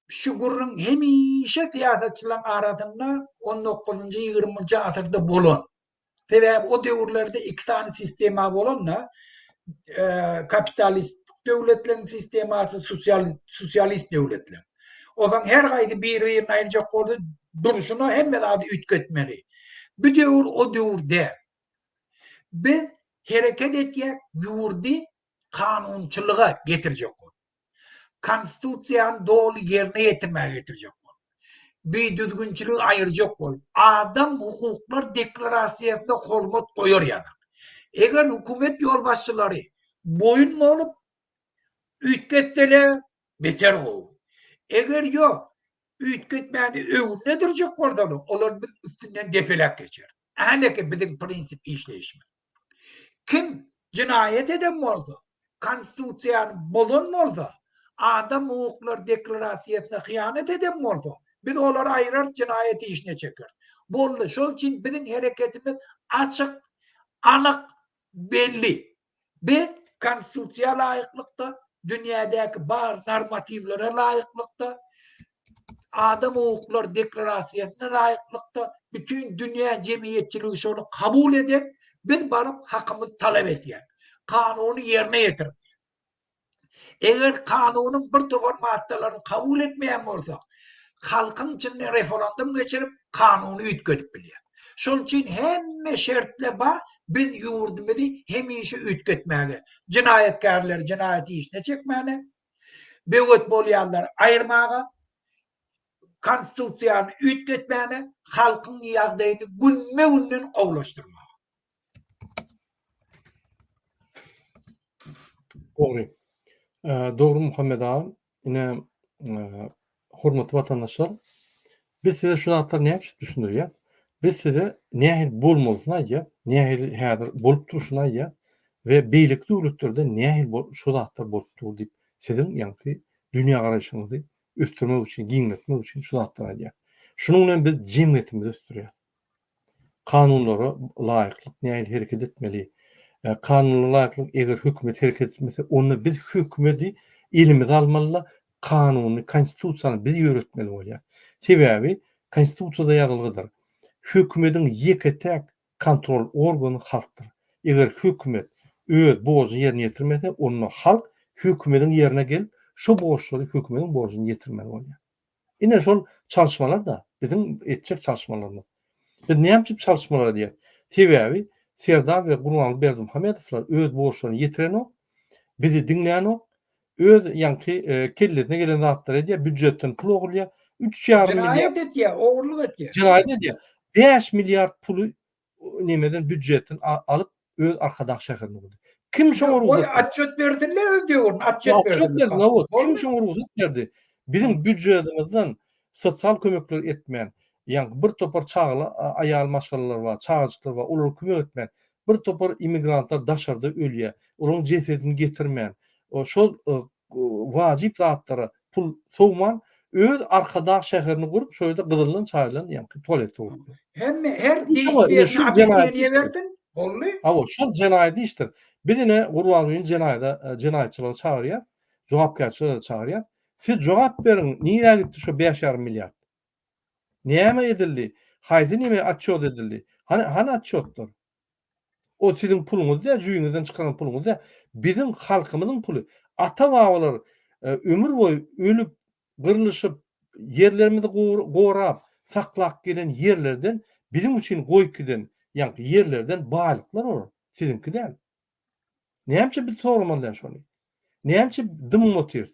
Şu gürrüň hemişe syýasatçylaryň arasynda on dokuzynjy, ýigriminji asyrda bolan. Sebäbi o döwürlerde iki sany sistema bolan-da, kapitalistik döwletleriň sistemasy, sosialist döwletler. Ozaň her gaýsy bir-birini aýyrjak boldy, durşuna hemme zady üýtgetmeli. Bu döwür o döwür däl. Biz hereket etýäk ýurdy kanunçylyga getirjek bolup. Konstitusiýany doly ýerine ýetirmäge getirjek bolup. Bidüzgünçiligi aýyrjak bolup, adam hukuklar deklarasiýasyna hormat goýar ýaly. Eger hökümet ýolbaşçylary boýun bolup üýtgetseler, Beter gowy. Eger ýok, üýtgetmäni öwrüne durjak bolsalar, olar biz üstünden depeläp geçer. Häleki biziň prinsip işleýişimiz. Kim jenaýat eden bolsa, Konstitusiýany bozan bolsa, Adam hukuklary deklarasiýasyna hyýanat eden bolsa, biz olary aýrarys, jenaýat işine çekeris. Boldy. Şol üçin biziň hereketimiz açyk, anyk, belli. Biz Konstitusiýa laýyklykda, dünýädäki bar normatiwlere laýyklykda, Adam hukuklary deklarasiýasyna laýyklykda bütin dünýä jemgyýetçiligi şony kabul edip, biz baryp hakymyzy talap edýäris. Kanuny ýerine ýetirip, Eger kanunyň bir topar maddalaryny kabul etmeýän bolsak, halkyň içinde referendum geçirip, kanuny üýtgedip bilýär. Şol üçin hemme şertler bar, biz ýurdumyzy hemişe üýtgetmäge, jenaýatkärleri jenaýat işine çekmäne, böwet bolýanlary aýyrmaga, Konstitusiýany üýtgetmäne, halkyň ýagdaýyny günme-günden gowulaşdyrmaga. Dogry. Dogry Muhammet aga. Ine hormatly watandaşlar, biz size şu zatlary näçe düşündirýär? Biz size nähili bolmalysyny aýdýar, nähili häzir bolup durşuny aýdýar we beýleki döwletlerde nähili şu zatlar bolup dur diýip, siziň ýaňky dünýägaraýşyňyzy ösdürmek üçin, giňeltmek üçin şu zatlary aýdýar. Şunuň bilen biz jemgyýetimizi ösdürýär. Kanunlara laýyklyk nähili hereket etmeli? Kanunlara laýyklyk eger hökümet hereket etmese onda biz hökümedi elimize almalyda kanuny konstitusiýany biz ýöretmeli bolýar. Sebäbi konstitusiýada ýazylgydyr. Hökümediň ýeke täk kontrol organy halkdyr. Eger hökümet öz borjuny ýerine ýetirmese onda halk hökümediň ýerine gelip şo borçlary hökümediň borjuny ýetirmeli bolýar. Ine şol çalyşmalar-da biziň etjek çalyşmalarymyz. Biz näme üçin çalyşmalar edýäris? Sebäbi Serdar we Gurbanguly Berdimuhamedowlar öz borçlaryny ýetirenok, bizi diňlänok, öz ýaňky kellesine gelen zatlary edýär, býujetden pul ogurlaýar, üç ýarym milliard. Jenaýat edýär, ogurlyk edýär. Jenaýat edýär. Bäş milliard puly nemeden býudjetden alyp öz arkadag şäherinde gurdy. Kim şoňa rugsat berdi? Goý atçet bersinle öz döwründe atçet berdi. Atçet berdi no wot. Kim şoňa rugsat berdi? Biziň býudjetimizden sosial kömekler etmän, ýaňky bir topar çagaly aýal maşgalalar bar, çagajyklar bar, olara kömek etmän, bir topar immigrantlar daşarda ölýär, olaryň jesedini getirmän, şol wajyp zatlara pul sowman, öz Arkadag şäherini gurup, şo ýerde gyzyldan çaýylan ýaňky tualet sowupdyr. Hemme, her degişmezini obýasneniýe bersin, boldy. Hawa, şol jenaýat işdir. Biz ine Gurbangulyny jenaýada, jenaýatçylyga çagyrýas, jogapkärçilige-de çagyrýas. Siz jogap beriň, nirä gitdi şo bäş ýarym milliard? Näme edildi? Haýsy näme otçýot edildi? Hany, hany otçýotlar? O siziň puluňyz däl, jüýňizden çykaran puluňyz däl. Biziň halkymyzyň puly. Ata-babalar e, ömür boýy ölüp, gyrlyşyp, ýerlerimizi gorap, saklap gelen ýerlerden biziň üçin goýup giden ýaňky ýerlerden baýlyklar olar. Siziňki däl. Nämçe biz soramaly däl şony? Nämçe dymyp otyrys?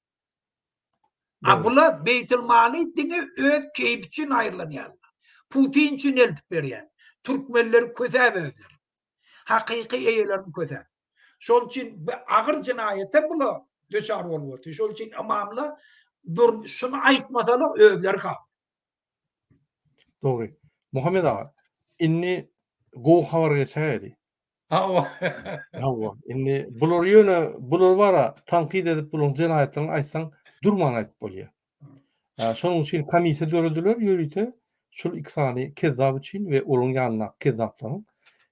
A bular beýtilmaly diňe öz keýpi üçin aýyrlanýarlar. Putin üçin eltip berýär. Türkmenleri kösäp özleri. Hakyky eýelerini kösäp. Şol üçin bi agyr jenaýata bula düçar bolup otyr. Şol üçin ymamlar dur şuny aýtmasalar özleri hak. Dogry. Muhammet aga, indi gowy habara geçäýeli. Hawa. Hawa, indi bulary ýöne bular bara tankyt edip bularyň jenaýatlaryny aýtsaň durman aýdyp bolýar. Şonuň üçin komissiýa dörediler ýörite şul iki sany kezzap üçin we olaryň ýanyndaky kezzaplaryň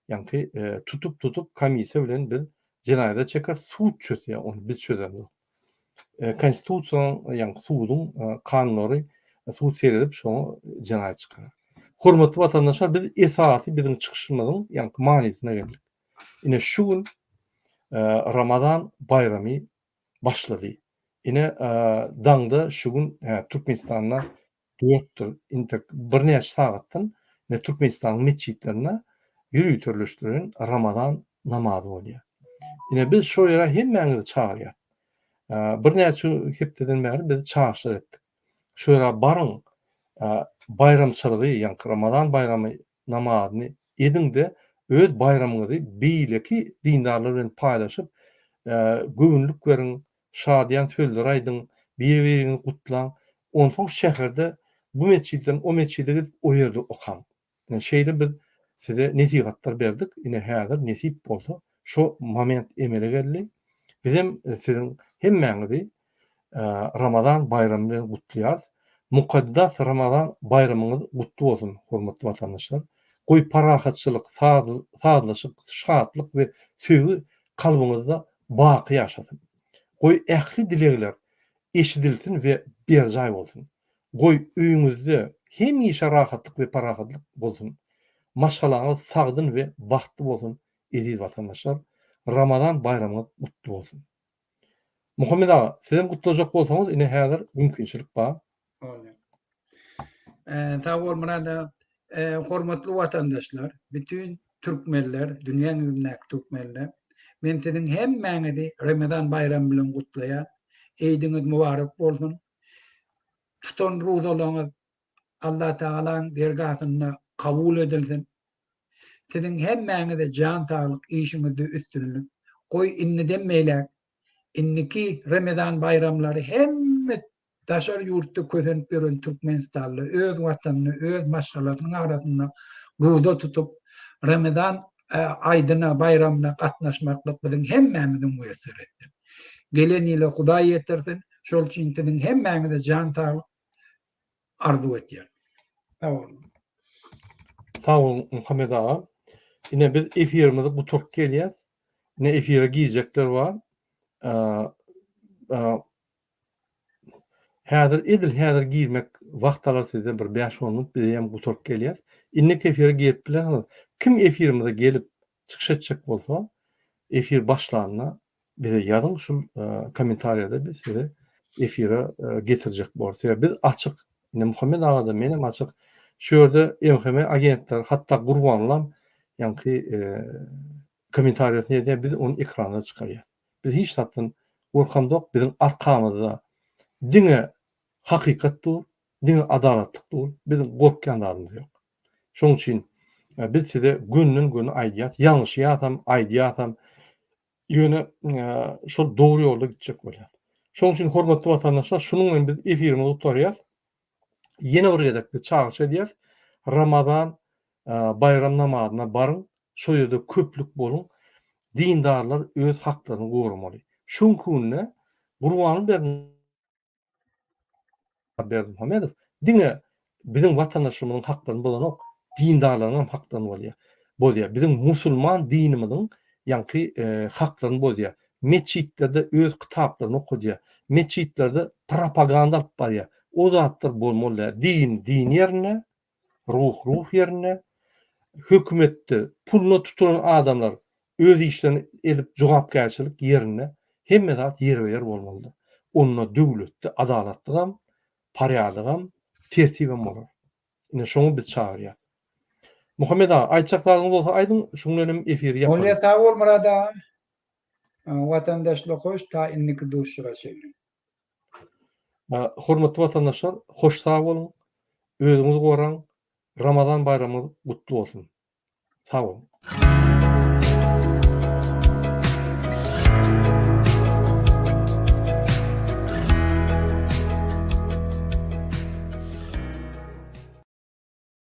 ýaňky tutup tutup komissiýa bilen biz jenaýada çeker sud çözse ony biz çözemzok. Konstitusiýanyň, ýagny suduň kanunlary sud seredip şoňa jenaýat çykarar. Hormatly watandaşlar biz esasy biziň çykyşymyzyň ýaňky manysyna geldik. Ine şu gün Ramazan baýramy başlady. Ine daňda şu gün Türkmenistanda bolupdyr. Intek birnäçe sagatdan ine Türkmenistanyň metjitlerinde ýöriteleşdirilen Ramazan namazy bolýar. Ine biz şo ýere hemmäňizi çagyrýas. Birnäçe hepdeden bäri biz çagyşlar etdik. Şo ýere baryň, baýramçylygy, ýagny Ramazan baýramy namazyny ediň-de, öz baýramyňyzy beýleki dindarlar bilen paýlaşyp, göwünlik beriň, şadyýan sözleri aýdyň, bir-biriňizi gutlaň, onsoň şäherde bu metjitden o metjide gidip o ýerde okaň. Ine şeýle biz size nesihatlar berdik, ine häzir nesip bolsa şo moment emele geldi. Bizem siziň hemmäňizi Ramazan baýramy bilen gutlaýarys. Mukaddes Ramazan baýramyňyz gutly bolsun hormatly watandaşlar. Goý parahatçylyk, sazlaşyk, şatlyk we söýgi kalbyňyzda baky ýaşasyn. Goý ähli dilegler eşidilsin we berjaý bolsun. Goý öýüňizde hemişe rahatlyk we parahatlyk bolsun. Maşgalaňyz sagdyn we bagtly bolsun eziz watandaşlar. Ramazan baýramyňyz gutly bolsun. Muhammet aga, sizem gutlajak bolsaňyz ine häzir mümkinçilik bar. Bolýar. Eee, sag bol Myrat aga. Eee, hormatly watandaşlar, bütin türkmenler, dünýäň ýüzündäki türkmenler, men siziň hemmäňizi Ramazan baýramy bilen gutlaýan. Eýdiňiz mübarek bolsun. Tutan ruzalaryňyz Allah Tagalaň dergahynda kabul edilsin. Siziň hemmäňize jan saglyk, işiňizde üstünlik. Goý, indiden beýläk, indiki Ramazan baýramlary hemme Daşary ýurtda kösenip ýören türkmenistanly öz watanyny öz maşgalasynyň arasynda guda tutup, Ramazan aýdyna, baýramyna gatnaşmaklyk biziň hemmämiziň muýesseretdir. Gelen ýyla Hudaý ýetirsin, şol üçin siziň hemmäňize jan saglyk arzuw etýän. Sag boluň. Sag boluň Muhammet aga. Ine biz efirimizi guturyp gelýäs. Ine efire girjekler bar. Häzir edil häzir girmek wagt alar sizden bir bäş on minut bizeýem gutaryp gelýäs. Innik efire girip bilersiňiz. Kim efirimize gelip çykyş etjek bolsa efir başlanda bize ýazyň şul kommentariýada biz sizi efire getirjek bolarys. Sebäbi biz açyk. Indi Muhammet agada menem açyk. Şu ýerde MHM agentler hatda Gurbanlam ýaňky Kommentariýasy nädä biz ony ekrana çykarýas. Biz hiç zatdan gorkamzok biziň arkamyzda diňe hakykat dur, diňe adalatlyk dur, biziň gorkýan zadymyz ýok. Şoň üçin biz size gönden göni aýdýas, ýalňyşýasam, aýdýasam ýöne şol dogry ýolda gitjek bolýas. Şoň üçin hormatly watandaşlar şunuň bilen biz efirimizi gutarýas. ýene bir gezek biz çagyryş edýäris, Ramazan baýram namazyna baryň, şol ýerde köplük boluň, dindarlar öz haklaryny goramaly. Şu günki günde Gurbanguly Berdi Berdimuhamedow diňe biziň watandaşlarymyzyň haklaryny bozanok, dindarlaryň hem haklaryny bolýar, bozýar. Biziň musulman dinimiziň ýaňky e, haklaryny bozýar. Metjitlerde öz kitaplaryny okadýar. Metjitlerde propaganda alyp barýar. O zatlar bolmaly däl. Din din ýerinde, ruh ruh ýerinde. Hökümetde puluna tutulan adamlar öz işlerini edip jogapkärçilik ýerinde. Hemme zat ýerbe-ýer bolmalydyr. Onda döwletde adalatlygam, porýadygam, tertibem bolar. Ine şoňa biz çagyrýas. Muhammet aga, aýtjak zadyňyz bolsa aýdyň, şuň bilen hem efiri ýapalyň. Bolýa sag bol Murad aga. Watandaşlar hoş ta indiki duşuşyga çenli. Hormatly watandaşlar hoş sag boluň özüňizi goraň Ramazan baýramyňyz gutly bolsun. Sag boluň.